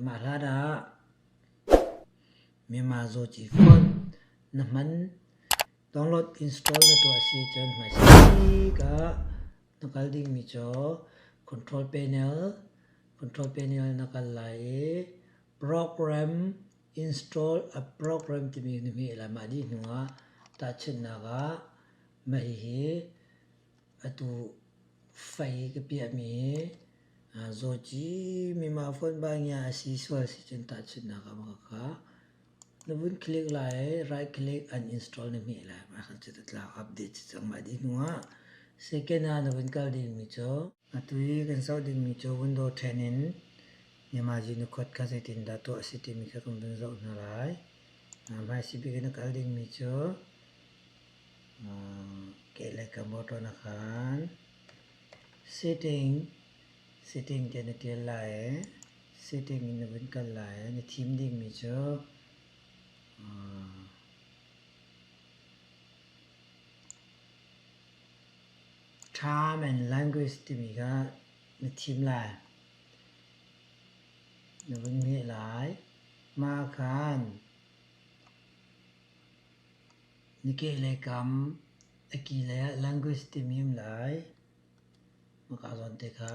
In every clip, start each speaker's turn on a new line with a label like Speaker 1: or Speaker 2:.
Speaker 1: Mah hlan ah Myanmar Zawci Fund na hman download install na tuah si cun hmaisik ah na kal dingmi cu control panel control panel na kal lai i program install a program timi na hmeh lai mah dih hnu ah tahchunhnak ah mah hihi. Atu fai ka piahmi zawci mimah fonba ngia a si sual si cun tahchunhnak ah ka ka na vun click lai right click uninstall na hmeh lai mah cu ta tla update si cang mah dih hnu ah second ah na vun kal dingmi cu atu i kan zoh dingmi cu window ṭhen in Yamaji na kuat kha zeitindah tuah a si timi kha kan vun zoh hna lai hmaisih bik in na kal dingmi cu kehlei ka motor na khan sitting sitting te na tial lai i sitting in na vun kal lai i na thim dingmi cu time and language timi kha na thim lai na vun ngeih lai mah khan Na keh le kam a ki le ah language timi um lai. Mah zawn te kha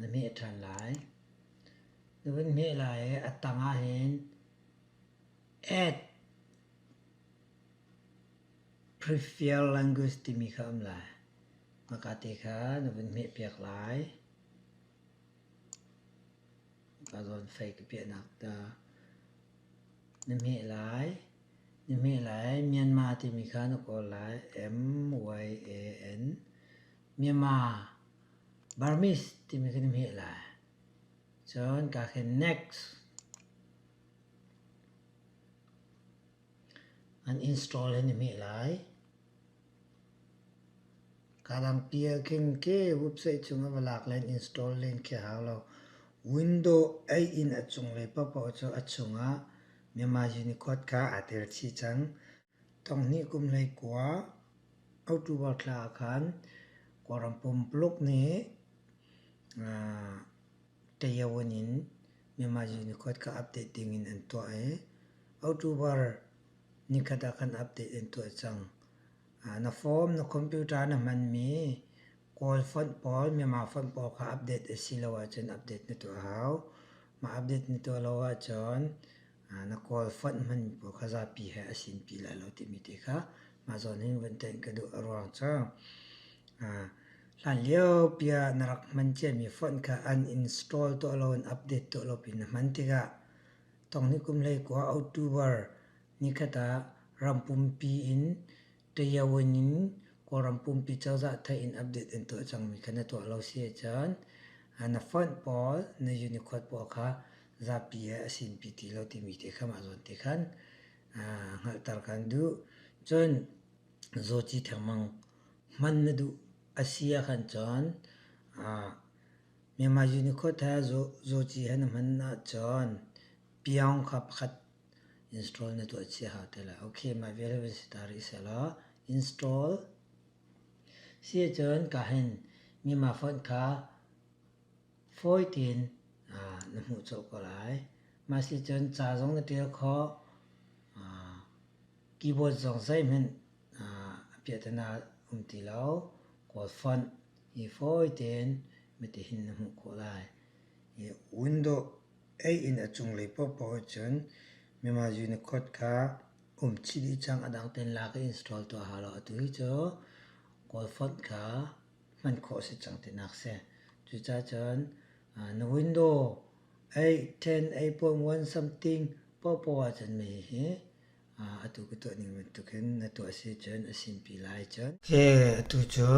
Speaker 1: na meh ṭhan lai. Na vun meh lai i a tang ah hin add prefer language timi kha um lai. Mah ka te kha na vun meh piak lai. ka zawn fei ka piahnak ta. Na hmeh lai, na hmeh lai Myanmar timi kha na kawl lai M-Y-A-N Myanmar Burmese timi kha na hmeh lai. Cun ka khin next. An install an i hmeh lai. Kaa dang pial khin ke website cung a va lak len install len khi a hau lo. Window ei in a cunglei paohpaoh cu a chungah myanmar Unicode kha aa tel chih cang. Tonghnih kum lei kua October thla ah khan Kuala Lumpur nih Taeyeon in Myanmar Unicode kha update ding in an tuah i October ni khat ah khan update an tuah cang. Na form, na computer na hmanmi Kawl font pawl, Myanmar font pawl kha update a si lo ahcun update na tuah hau. Mah update na tuah lo ahcun Na kawl fonh hman pawl kha zapi he a sin pi lai lo timi te kha mah zawn in vun tenh ka duh a ruang cu hlan lio pi ah na rak hman ciami fonh kha an install tuah lo in update tuah lo pin na hman tikah tong ni kum lei kua October ni khat ah ram pumpi in Tayawan in Kawlram pumpi cozah thai in update in tuah cangmi kha na tuah lo si ahcun na font pawl na Unicode pawl kha zapi he a sinpi ti lo timi te kha mah zawn te khan hngalhter kan duh. Cun zawci thengmang hman na duh a si ahkhan cun Myanmar Unicode he zawci he na hman ahcun piang kha pakhat Install na tuah cia hau te lai. Ok, mah vial hin si ta rih selaw install. Si ahcun ka hin mima font kha fawi tein na hmuh cawk ko lai. Mah si cun ca zong na ṭial khawh. Keyboard zong zeihmanh a piah te na um ti lo. Kawl font hi fawi tein mitihin na hmuh khawh lai. Window. Ei inn a cunglei paohpaoh ah cun Myanmar Unicode kha um chih dih cang. A dang tein lak i install tuah hau lo. Atu hi cu Kawl font kha hman khawh a si cang tinak a si. Cucaah cun na window ei 10, ei 0.1 something paohpaoh ah cun mei hi Atu ka tuah ning bantuk hin na tuah si cun a sinpi lai cun. Hi atu cu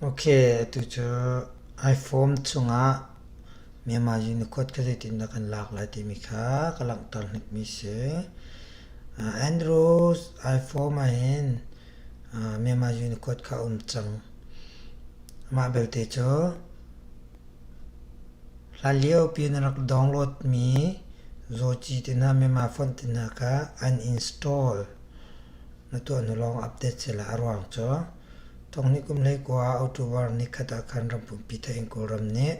Speaker 1: Ok atu cu iPhone chungah Myanmar Unicode kha zeitin dah kan lak lai timi kha ka langhter hnikmi si. Android iPhone ahhin Myanmar Unicode kha a um cang. Mah belte cu Hlanlio pin a rak downloadmi Zawci tinak Myanmar phone tinak ah an install na tuah hnu lawng update sila a ruang cu thongni kum hlei kua ah October ni khat ah khan ram pumpi Thein Kawlram nih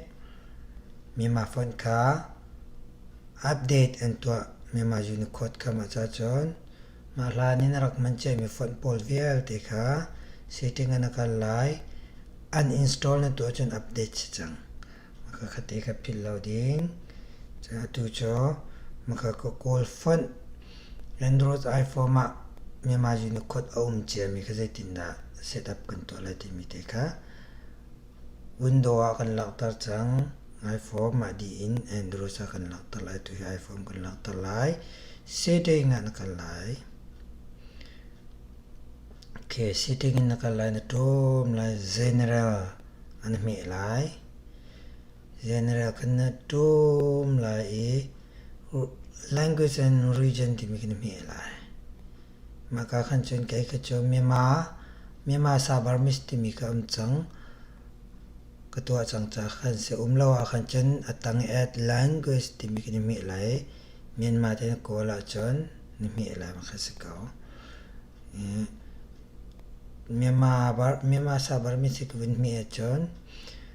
Speaker 1: Myanmar phone kha update an tuah Myanmar Unicode kam ah cahcun Mah hlan in a rak hman ciami font pawl vialte kha setting ah na kal lai. Uninstall na tuah cun update si cang. Maka kha te kha philh lo ding. Ca atu cu maka ka kawl font Android iPhone ah Myanmar Unicorn a um ciami kha zeitindah setup kan tuah lai timi te kha Window ah kan langhter cang. Iphone mah dih in Android ah kan langhter lai. Tuhi iPhone kan langhter lai. Setting ah na kal lai. Okay, setting in na kal lai. Na ṭawm lai. General an hmeh lai. General kan na ṭawm lai i language and region timi kan hmeh lai. Maka kan cun kei ka cu Myanmar, Myanmar Sa Burmese timi ka um cang. Ka tuah cang ca kan si um lo ah kan cun a tang at language timi kan i hmeh lai. Myanmar te na kawl ahcun na hmeh lai ma kan si ko. Myanmar, Myanmar Sa Burmese ka vun hmeh ahcun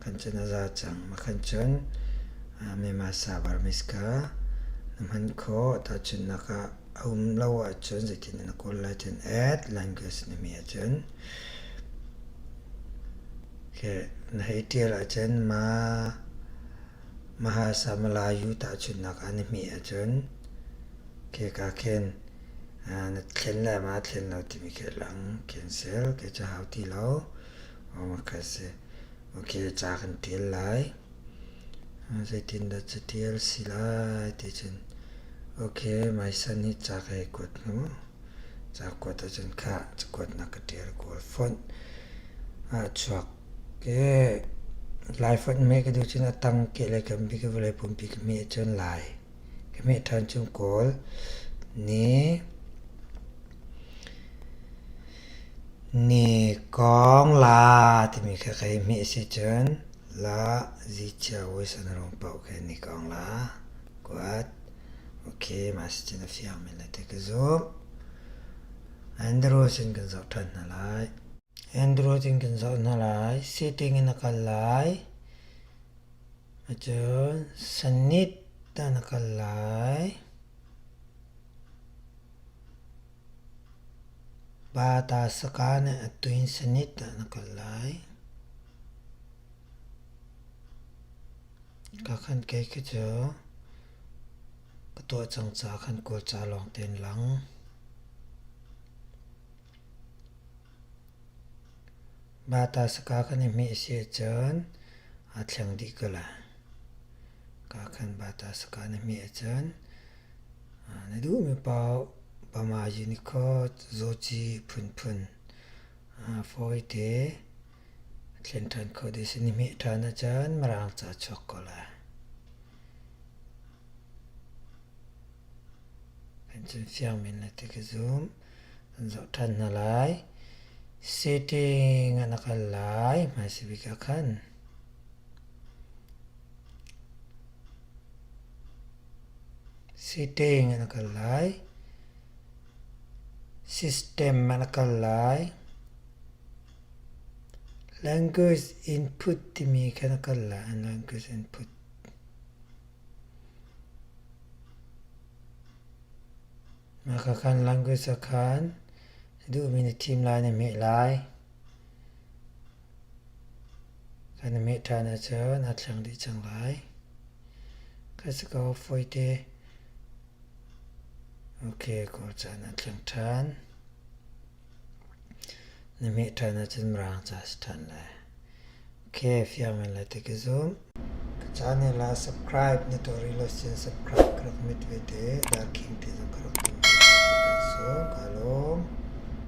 Speaker 1: kan cun a za cang. Mah kan cun mema savar miska na hman khaw tahchun nakah a um lo ahcun zeitin na kawl lai cun add language na mi ahcun okay na hei tial ahcun ma maha samalayu tahchun nakah na mi ahcun okay ka khen na thlen le ma thlen lo timi khe lang khen sel okay ca hau ti lo ka si. Ok, ca kan ṭial lai. Zeitindah cu ṭial si lai ticun, ok, mai san hi ca ka i kuat hnu, ca kuat ahcun khah cakuat na ka ṭial kawl fonh. A chuak, lai fonh me ka duh cun a tang ke le kambi ka vawlei pumpi ka hmeh cun lai. ka hmeh ṭhan chung kawl. Ni, ni kong la timi kha ka i hmeh si cun la zi chia uisan rung poh khe ni kong la kuat. Ok, ma si cun a fiang men le te ka zumh. Andrew sin kan zoh ṭhan hna lai. Android in kan zoh hna lai. Setting in a kal lai. Ahcun Sunnit ah na kal lai. Batasakan a tuin Sunnit ah na kal lai. Ka khan kei khi cu ka tuah cang ca khan kual ca lawng tein lang. Mata saka kan i hmeh si ahcun aa thleng dih ko la. Ka khan bata saka na hmeh ahcun na duhmi paoh bamaji nikhaw zawci phunphun fawite thlen ṭhan kho dih si. Na hmeh ṭhan ahcun mirang ca chuak ko la. Kan cun fiang men le ti ka zumh. an zoh ṭhan hna lai. Sitting ah na kal lai, hmaisabik ah khan. Sitting ah na kal lai. System ah na kal lai. Language input timi kha na kal lai, an language input. Hakha language ah khan duhmi na thim lai na hmeh lai. Kan na hmeh ṭhan ahcun aa thleng dih cang lai. Ka si ko fawite. Ok, ko caan aa thleng ṭhan. Na meh ṭhan ahcun mirang ca a si ṭhan lai. Ok, fiang in le ti ka zumh. Ka ca ne la subscribe na tuah rih lo sin subscribe ka rak mit vete. Darking ti zong ka rak tum ve te ti kan sung. Ka lawm.